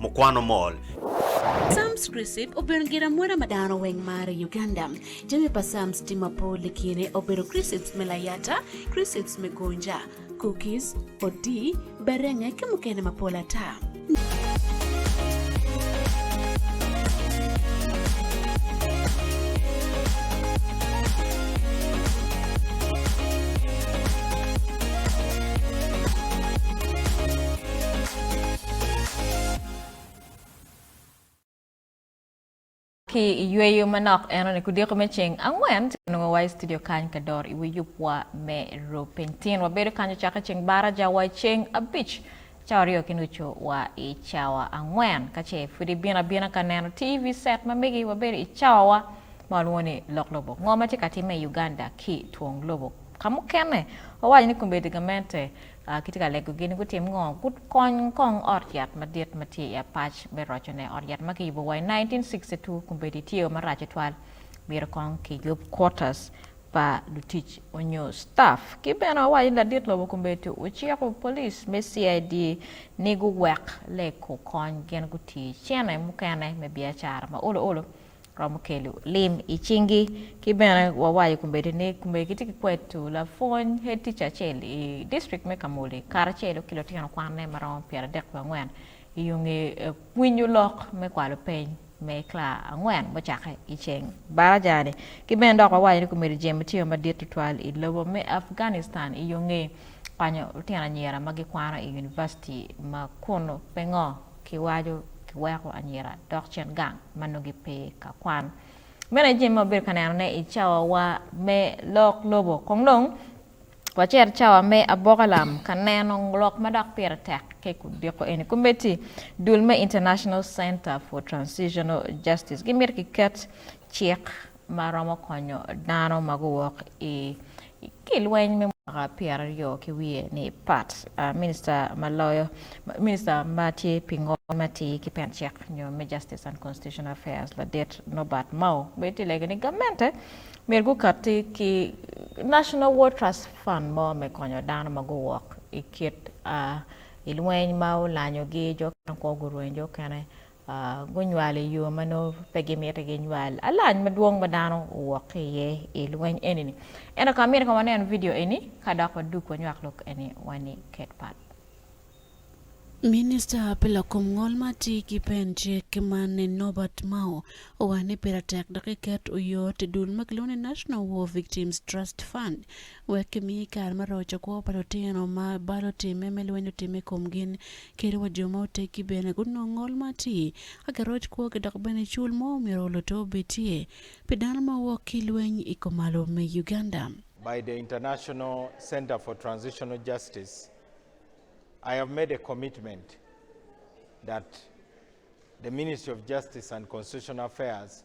Mukwano mol. Sam Skirrisip obedo gin amwoda ma dano weng maro i Uganda. Jami pa Sam tye mapol i kine obedo Kirisips me layata, Kirisips me gonja, Cookies, Odi, Berenge ki mukene mapol ata. ki i yweyo manok enoni kudiko me ceng angwen ci wanongo wa i studio kany ka dor i wi yub wa me rub piny tin wabedo kany ocake ceng baraja wa i ceng abic cawa aryo ki nucu wa i cawa angwen ka ce pud i bino abina ka neno tv set ma megi wabedo i cawa wa ma walwongo ni lok lobo ngo ma tye ka timme i Uganda ki twong lobo ka mukene wawaco ni kombeddi gamente Kitye ka legogi ni gutim ngo? Gukony kong ot yat madit ma tye i Apac me rocone. Ot yat ma kiyubo wa i 1962 kombeddi tye o marac tutwal. Myero kong kiyub quarters pa lutic onyo staff. Ki bene owaco ni ladit lobo kombeddi ociko police me CID ni guwek lego kony gin guti cene mukene me biacara ma olo olo romo kelo lim i cingi ki bene wawaco kombeddi ni kombeddi gitye ki kweto lapwony head teacher acel i district me Kamuli karacelo ki lutino kwanne ma romo pyeradek ki angwen i yo nge winyo lok me kwalo peny me cla angwen mucakke i ceng baraja-ni ki bene dok wawaco ni kombeddi jemo tye madit tutwal i lobo me Afghanistan i yo nge kwanyo lutino anyira ma gikwano i univaciti ma kunu pingo. kiwaco kiweko anyira dok cen gang ma nongo gipe ka kwan. Meno aye jami ma wabedo ka nenone i cawawa me lok lobo. Kong dong wacit i cawa me abokalam ka neno lok ma dok pire tek ki i kudiko eni. Komitti dul me International Center for Transitional Justice gimito kiket cik ma romo konyo dano ma guwok i ki lweny me mwaka pyeraryo ki wiye ni pat Minista ma loyo Minista ma tye pi ngom me atir ki pen cik nyo me Justice and Constitutional Affairs ladit Nobert Mao bene tye lego ni gamente myero gukati ki National War Trust Fund mo me konyo dano ma guwok i kit i lweny ma olanyogi jo kene kwo gurwenyo jo kene gunywalo i yo ma nongo pe gimiti ginywal. Alac madwong ma dano owok ki iye i lweny eni-ni. Ento ka amyero ka wanen vidio eni ka dok wadug wanywak lok eni wani ket pat. Minista pi lakom ngol ma tye ki pence Kimani Norbert Mao owaconi pire tek dok kiket oyot dul ma kilwongo ni National War Victims Trust Fund Wek kimi kare me roco kwo pa lutino ma bal otimme me lweny otim i komgi kadi wa jo ma oteggi bene gunong ngol ma atir. Ka kiroc kwogi dok bene cul mo myero oloto obed tye pi dano ma wok ki lweny i komalo me Uganda. By the International Center for Transitional Justice, I have made a commitment that the Ministry of Justice and Constitutional Affairs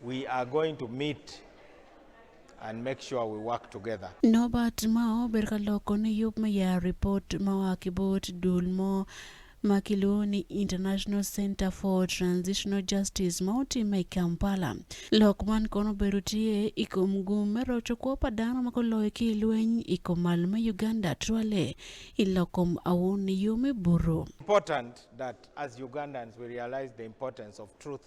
We are going to meet and make sure we work together. Norbert Mao obedo ka loko ni yub me yero ripot ma oa ki bot dul mo ma kilwongo ni International Center for Transitional Justice ma otimme i Kampala. Lok man kono obedo tye i kom gum me roco kwo pa dano ma guloyo ki i lweny i kom malo me Uganda twale i lok kom aun nio me buto. Important that as Ugandans we realize the importance of truth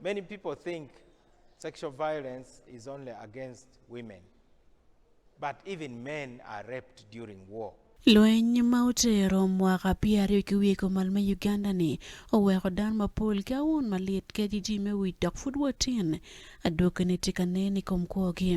Many people think sexual violence is only against women, but even men are raped during war. Lweny ma otero mwaka pyeraryo ki wiye i kom al me Uganda ni oweko dano mapol ki aun malit kadi jii me wic dok pud watin adwoke ne tye ka nen i kom kwogi.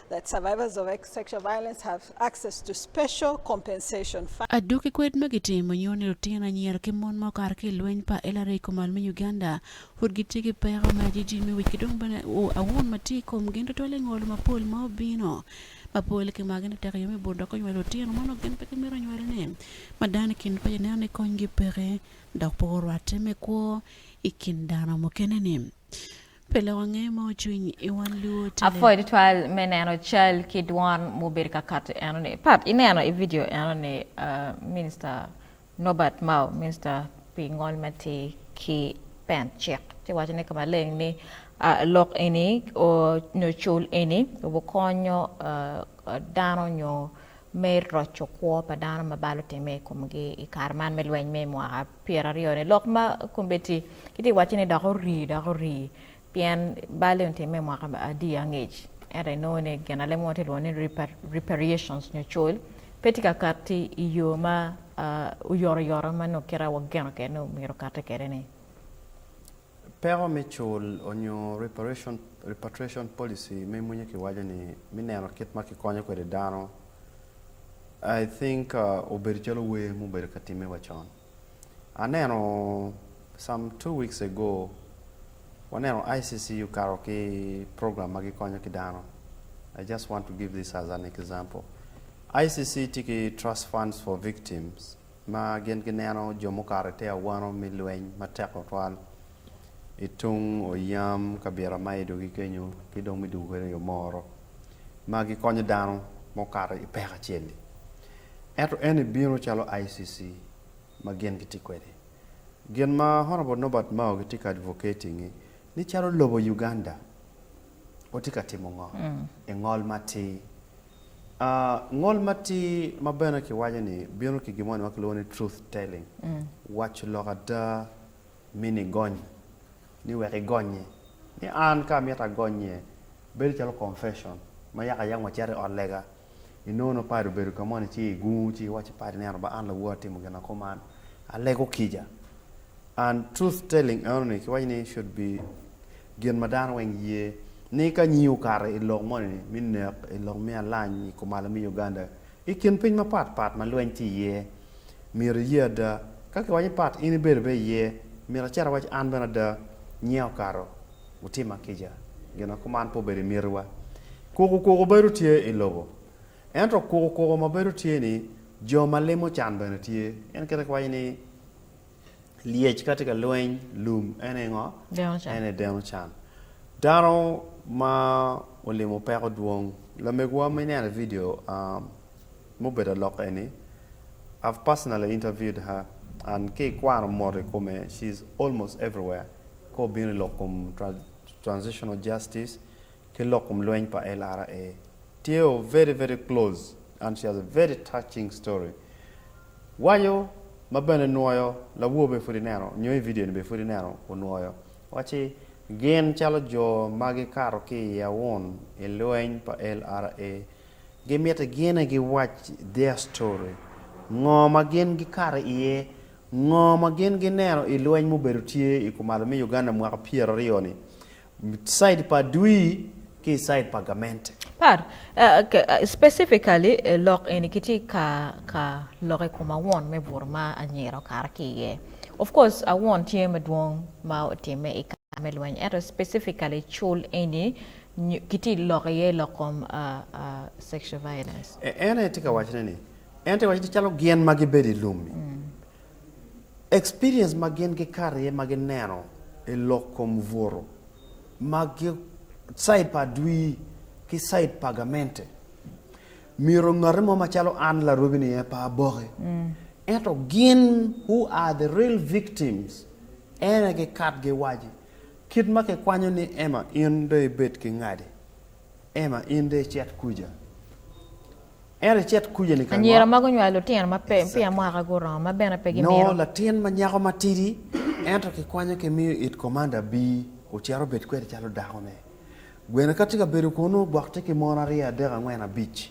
Adwogi kwed ma gitimo nyuto ni lutino anyira ki mon ma okato ki i lweny pa LRA i kumal me Uganda pud gitye ki peko me ajijing me wic ki dong bene awun ma tye i komgin tutwalle i ngol mapol ma obino. Mapol ki magi ni tek i yo me bot dok onywalo lutino ma nongo gin pe gimito nywalone ma dano i kin paco neno ni konygi peke dok poko rwatte me kwo i kin dano mukene-ni. Apwoyo tutwal me neno cal ki dwon mubedo ka kati enoni. Pat, ineno i vidio enoni Minica Norbert Mao, Minica pi Ngol Matir ki Pent Cik, tye ka waco ni ka maleng ni lok eni nyo cul eni obikonyo dano nyo me roco kwo pa dano ma bal otimme i komgi i kare man me lweny me mwaka pyeraryo-ni. Lok ma kombeddi kitye wacce ni dok orii dok orii pien bal-li otimme mwaka adi angec, ento inongo ni gin alemo ma watye ka lwongo ni repariations nyo col pe tye ka katti i yo ma oyotoyoto ma nongo kit ma wageno kwede ni omyero okatti kwede-ni. Peko me cul onyo reparation, repatriation policy me mwenye kiwaco ni me neno kit ma kikonyo kwede dano I think obedo calo wer ma obedo ka timme wa con. Aneno some two weeks ago waneno ICC okato ki program ma gikonyo ki dano I just want to give this as an example. ICC tye ki trust funds for victims ma gin gineno jo mukato i te awano me lweny matek tutwal i tung oyam kabira ma i dogi kenyo ki dong me dwogo kwede i omoro ma gikonyo dano ma okato i peko acel-li. Ento eni bino calo ICC ma gin gitye kwede. Gin ma Honourable Norbert Mao gitye ka advocating-ngi ni calo lobo Uganda, Watye ka timo ngo i ngol matir? Ngol matir ma bene kiwaco ni bino ki gin moni ma kilwongo ni truth telling, waco lok ada me ni gony ni wek igonye. Ni an ka amito agonnye bedo calo confession ma yaka yam wacito i ot lega I nono Padi obedo ka moni ci gungu ci iwacci Padi ni ento ba an lawote atimo gin ako man alego kica and truth telling eno ni kiwaco ni should be gin ma dano weng ye ni ka nyingi okato I lok moni ni me nek I lok me alany I kumalo me Uganda I kin piny ma pat pat ma lweny tye iye myero iye ada ka kiwaco ni pat in ibedo bene iye myero acit awac an bene ada nyinga okato Wutima kica. Gina kuman pe obedo i mitiwa. Kuku kuku bedo tye i lobo. Ento kuku kuku ma bedo tye ni, jo ma limo can bene tye. En kite kiwaco ni lyec ka tye ka lweny lum en aye ngo? En aye deno can. Dano ma olimo peko dwong. Lamegowa ma ineno i video mubedo alok eni, I've personally interviewed her and ki ikwano mot i kome, she's almost everywhere. Ka obino i lok kom transitional justice ki lok kom lweny pa LRA, tye o very very close and she has a very touching story. Waco ma bene nwoyo lawobe pud ineno nyo i video ni bene pud ineno onwoyo wacci gin calo jo ma gikato ki i aun i lweny pa LRA gimiti gine giwac their story, ngo ma gin gikato iye Ngo ma gin gineno i lweny mubedo tye i kumalo me Uganda mwaka pyeraryo ni, side pa Adwi ki side pa gamente? Par, specifically lok eni kitye ka ka lok i kom awon me buto ma anyira okato ki iye. Of course awon tye madwong ma otime i kare me lweny ento specifically cul eni kitye lok iye lok kom sexual violence. En aye tye ka wacone ni Ento iwaco ni calo gin ma gibedo i lum-mi, experience ma gin gikato iye ma gineno i lok kom buto ma cait pa adwi ki cait pa gamente, myero ngati mo macalo an Larobi-ni aye pe aboki. Ento gin who are the real victims en aye gikat giwaci, kit ma kikwanyo ni Emma in dong ibed ki ngati, Emma in dong icit kuca. Ento icit kuceni ka Anyira ma gunywalo lutino ma peya mwaka guromo ma bene pe gimito. Nongo latin ma nyako matidi ento kikwanyo kimiyo it komanda abir ocito obed kwede calo dakone. Gweno ka tye ka bedo kunnu gwok tye ki mon aryo adek angwen abic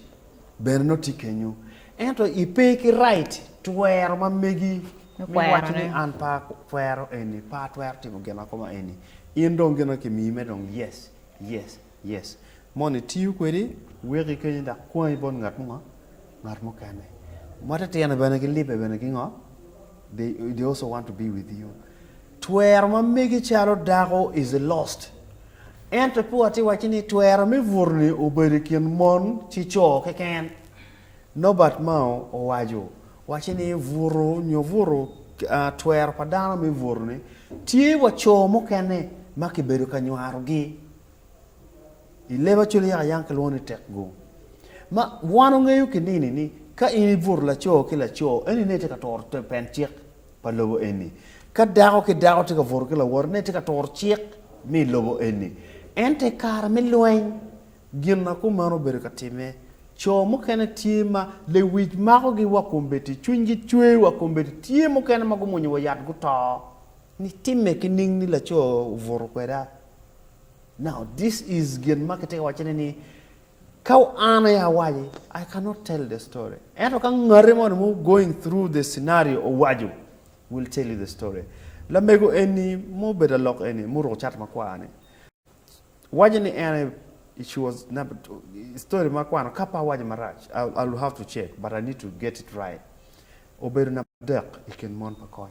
bene nongo tye kenyu. Ento i pe ki right twero ma megi Me mi waco ni kwerone. an pe atwero eni, pe atwero timo gin ma koma eni. In dong gin ma kimiyi me dong yes, yes. Yes. Moni tiyo kwedi, weki kenyo dok kwangi bot ngat mo, ngat mukene. Ma titino bene ki libe bene ki ngo? They, they also want to be with you. Twero ma mege calo dako is a lost. Ento pe watye wacci ni twero me buto-ni obedo i kin mon ci co keken. Norbert Mao owaco, wacci ni buto nyo buto, ah, twero pa dano me buto-ni tye wa co mukene ma kibedo ka nywarogi I leb Australia yaka yang kilwongo ni tek gum. Ma wan ongeyo ki nini ni ka in ibuto laco ki laco eni ne itye ka turo te pen cik pa lobo eni. Ka dako ki dako tye ka buto ki lawote ne itye ka turo cik me i lobo eni. Ento i kare me lweny gin ma kumeno obedo ka timme. Co mukene tye ma lewic makogi wa kombeddi, cwinygi cwer wa kombeddi, tye mukene ma gumwonyo wa yat guto. Ni timme ki ning ni laco obuto kweda. Now this is gin ma kitye ka waccone ni ka an aye awaci I cannot tell the story ento ka ngati moni ma going through the scenario owaco will tell you the story. Lamego eni ma obedo alok eni ma oruko cati makwar ni waco ni en aye she was number story ma akwano ka pe awaco marac I will have to check but I need to get it right obedo namba adek i kin mon pa kony.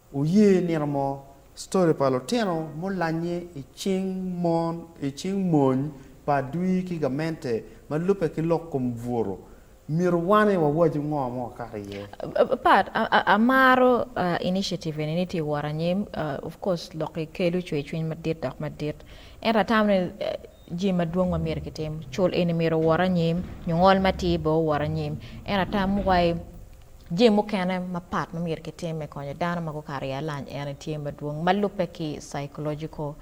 Wuye nino mo, story pa lutino mulanye i cing mon i cing mony pa adwi ki gamente ma lubbe ki lok kom bwuru. Myero wani wawacu ngo ma wakato iye? Pat, amaro initiative eni ni tye wot anyim, of course lok ikelu cwer cwiny madit dok madit, ento atamo ni Jami madwong ma myero kitim, Cul eni myero owot anyim, nyo ngol matir bene owot anyim. Ento ata mwai jami mukene mapat ma myero kitim me konyo dano ma gukato i alany eni tye madwong ma lubbe ki psychological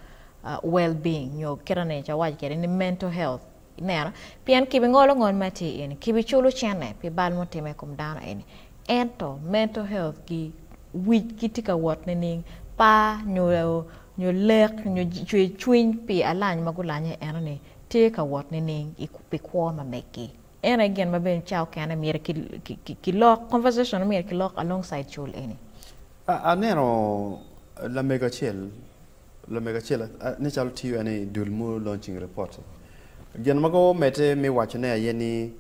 well being nyo kite ni ca wawaco kwede ni mental health. Ineno? Pien kibi ngolo ngol ma tye eni, kibi culo cene pi bal mutime i kom dano eni. Ento mental health gi wicgi tye ka wot nining? Par nyo nyo lek, nyo cwercwiny pi alany ma gulanye enoni, tye ka wot nining pi kwo ma megi? Eno aye gin ma bene ca okene myero kilok, conversation myero kilok alongside cul eni. Aneno lamego acel, lamego acel nen calo tiyo en i dul mo launching report. Gin ma gumedde me wacone aye ni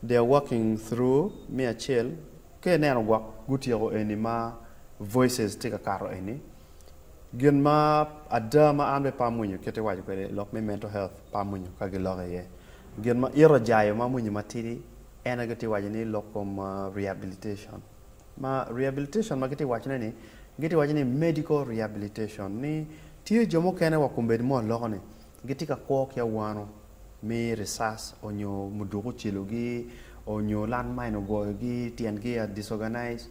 they are working through me acel ka ineno gwok gutyeko eni ma voices tye ka kato eni, Gin ma ada ma an bene pe amwinyo kit iwaco kwede i lok me mental health pe amwinyo ka giloke iye. Gin ma ita ojayo ma amwinyo matidi en aye gitye waco ni lok kom rehabilitation ma rehabilitation ma gitye wacone ni gitye waco ni medical rehabilitation ni tye jo mukene wa kombeddi mo aloko ni gitye ka kwo ki awano me risac onyo muduku ocilogi onyo landmine ogoyogi tyengi disorganized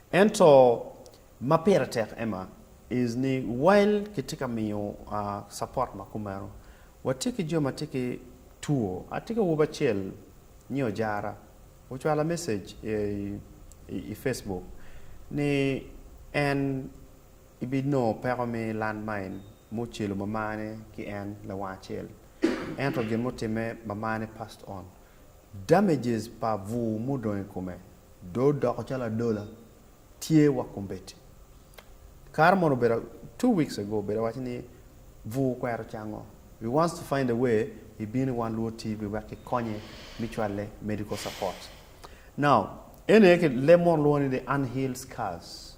Ento, ma pire tek, Emma, is ni while kitye ka miyo support ma kumeno, watye ki jo ma tye ki two. Atye ki awobi acel nyinge Ojara, ocwala message i Facebook ni en ibinongo peko me land mine mucelo mamane ki en lawang acel. Ento gin mutimme mamane passed on. Damages pa bur mudong i kome dong odoko calo adola tye wa kombeddi. Kare mono obedo two weeks ago obedo awaci ni bur okwero cango he wants to find a way ebino i wan luo TV wek kikonye me cwalle medical support. Now ene aye ki leb mo lwongo ni the unhealed scars.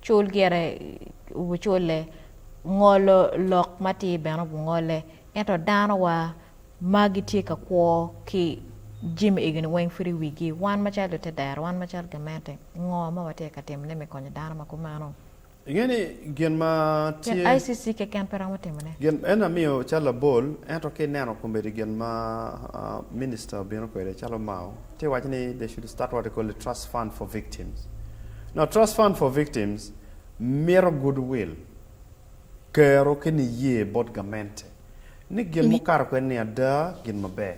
Cul gire wuculle, ngolo lok ma tir bene wungolle. Ento danowa ma gitye ka kwo ki jami egini weng pud i wigi. Wan macalo lutedera, wan macalo gamente, ngo ma watye ka timone me konyo dano ma kumeno? Ingeyo ni gin ma tye. Gin ICC keken pe romo timone. Gin en amiyo calo labol, ento ka ineno komedi gin ma Minista obino kwede calo Mao. Tye waco ni they should start what they call a trust fund for victims. Now trust fund for victims mito good will, kero ki niye bot gamente ni gin mukato kwede ni ada gin maber.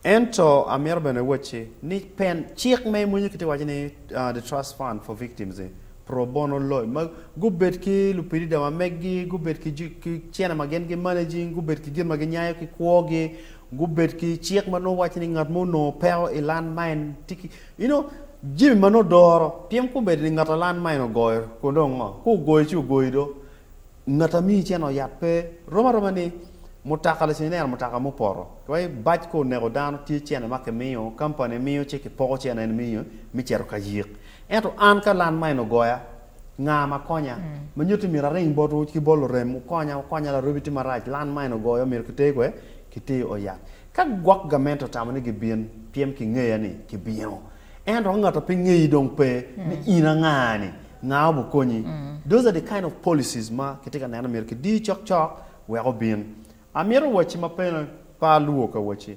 Ento amito bene awacci ni pen cik ma imwonyo kitye waco ni the trust fund for victims ni pro bono loan ma gubed ki lupilida ma meggi, gubed ki cene ma gin gi managing, gubed ki gin ma ginyayo ki kwogi, Gubed ki cik ma nongo waco ni ngat ma onongo peko i lan main tye ki, you know, jami ma nongo doro. Pien ka obedo ni ngat alan main ogoyo kun dong ngo? Ka ogoyo ci ogoyi do. Ngat a miyi cen oyat pe. Rom aroma ni mutoka licinera mutoka mupoto. Wai bac ka oneko dano tye cene ma kimiyo, kampani miyo ci kipoko cene eni me cito ka yik. Ento an ka lan main ogoya, Nga ma konya? Ma nyuto ni myero aring botwu ki bot lurem, wukonya, wukonya, larobi tye marac, lan ma en ogoyo myero kiter kwe? Kiter oyak. Ka gwok gamente otamo ni gibin, pyem ki ngeya ni gibino. Ento ka ngat ma pe ngeyi dong pe, ni in anga-ni? Nga obukonyi? Those are the kind of policies ma kitye ka neno ni myero kidir cok cok wek obin. Amito wacci ma pene pe alwok awacci.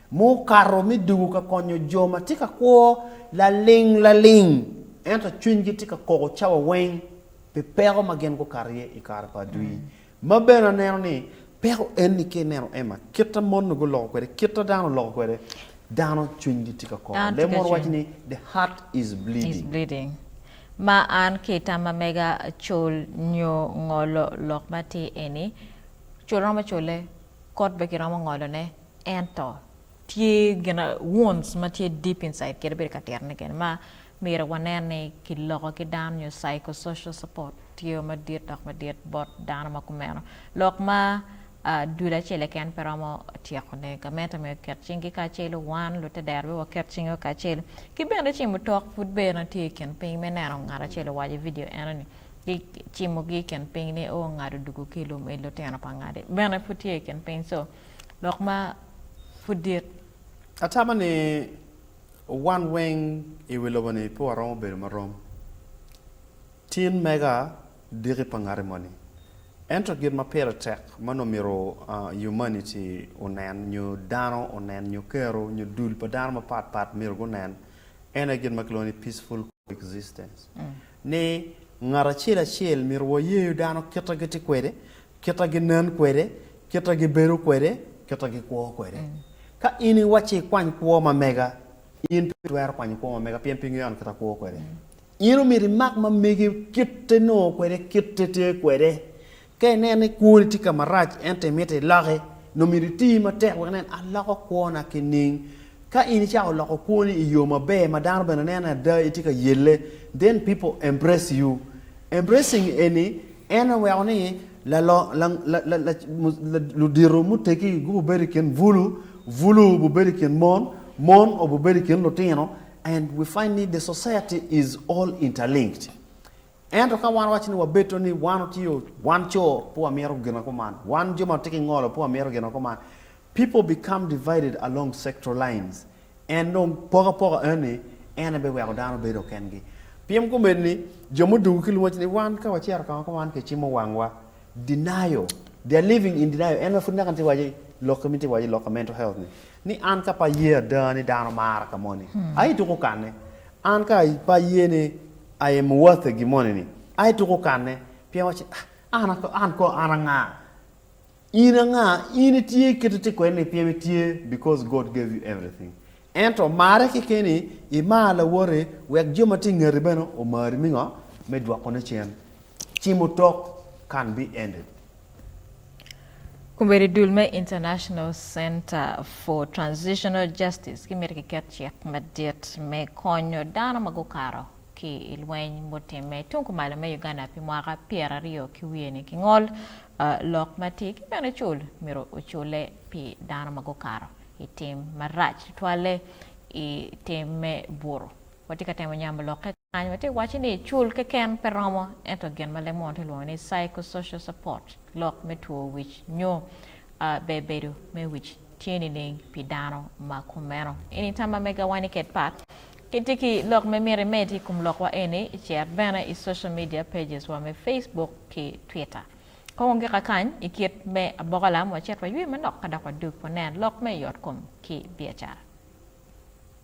Mukato me dugo ka konyo jo ma tye ka kwo laling laling, ento cwinygi tye ka koko cawa weng pi peko ma gin gukato iye i kare pa adwi. Ma bene aneno ni peko enni ka ineno Emma, kit a moni guloko kwede, kit a dano oloko kwede, dano cwinygi tye ka koko. Lee moro waco ni the heart is bleeding. Ma an ki i tam ma mega cul nyo ngolo lok ma tye eni, cul romo cule, kot bene kiromo ngolone, Ento, tye gin wounds ma tye deep inside kit bedo ka tito ni kene ma myero wanen ni ki loko ki dano nyo psychosocial support tye madit dok madit bot dano ma kumeno. Lok ma dul acel keken pe romo tyeko ne. Gamente myero ket cing ki kacelu wan lute dero be wa ket cing wa kacelu. Ki bene cimo tok pud bene tye ikin piny me neno ngat acel owaco i video eno ni ki cimo gi ikin piny ni o ngado dugu ki lum i lutino pa ngati bene pud tye ikin piny so lok ma pud dit. Atamo ni wan weng i wi lobo ni pe waromo bedo ma rom tin mega diki pa ngati moni. Ento gin ma pire tek ma nongo myero humanity onen nyo dano onen nyo kero nyo dul pa dano mapat pat myero gunen en aye gin ma kilwongo ni peaceful coexistence ni ngat acel acel myero wayeyo dano kite gitye kwede kita ginen kwede, kita gibedo kwede, kita gikwo kwede. Ka in iwacci ikwany kwo ma mega, in pe itwero kwanyo kwo ma mega pien pe ingeyo an kita akwo kwede. In omyero imak ma megi kite inongo kwede, kite itye kwede. Ka ineno ni kwoni tye ka marac ento imito iloki, nongo myero iti matek wek inen aloko kwona kining? Ka in icako loko kwoni i yo maber ma dano bene neno ni ada itye ka yelle, then people embrace you. Embracing eni en oweko ni ludito muteggi gubibedo i kin bulu, bulu obibedo i kin mon, mon obibedo i kin lutino and we find ni the society is all interlinked. Ento ka wan wawaco ni wabedo ni wan otio, wan co pe wamito gina kuman, wan jo ma watye ki ngolo pe wamito gina kuman, people become divided along sectoral lines, en dong poko apoka enoni en aye biweko dano bedo kengi. Pien kumeni, jo mudugu ki lum waco ni wan ka wacito kama kuman kicimo wangwa. Denial, they are living in denial. En aye pud naka tye waco lokke me tye waco loka mental health ni, ni an ka pe aye ada ni dano mara ka moni, aye ituko kane? An ka pe aye ni Aye muwatte gi moni-ni, aye tuko okanne, pien wacci ni, 'An, an kono an anga? In anga? In itye iketo te kweni ni pien itye, because God gave you everything. Ento marre kekeni, imar lawoti, wek jo ma tye i ngeti bene omari me ngo? Me dwokone cen. Ci mutok can be ended. Obedo dul me International Center for Transitional Justice ki miti kiket cik madit me konyo dano ma gukato ki i lweny mutimme tung kumalo me Uganda pi mwaka pyeraryo ki wiye-ni ki ngol lok ma tye ki bene cul myero ocule pi dano ma gukato i tim marac tutwalle i tim me buto. Watye ka temo nyamo lokke. Kany ma tye wacci ni cul keken pe romo, ento gin ma leb munu tye lwongo ni psychosocial support, lok me two wic nyo bebedo me wic tye nining pi dano ma kumeno? Ini tam ma mega wani ked pat? Kiti ki lok me miti medi ikom lok wa eni, icer bene i social media pages wa me Facebook ki Twitter. Kongo gika kany i kit me aboka lam wacit waywe manok kadok wadug wanen lok me i ot kom ki biacara.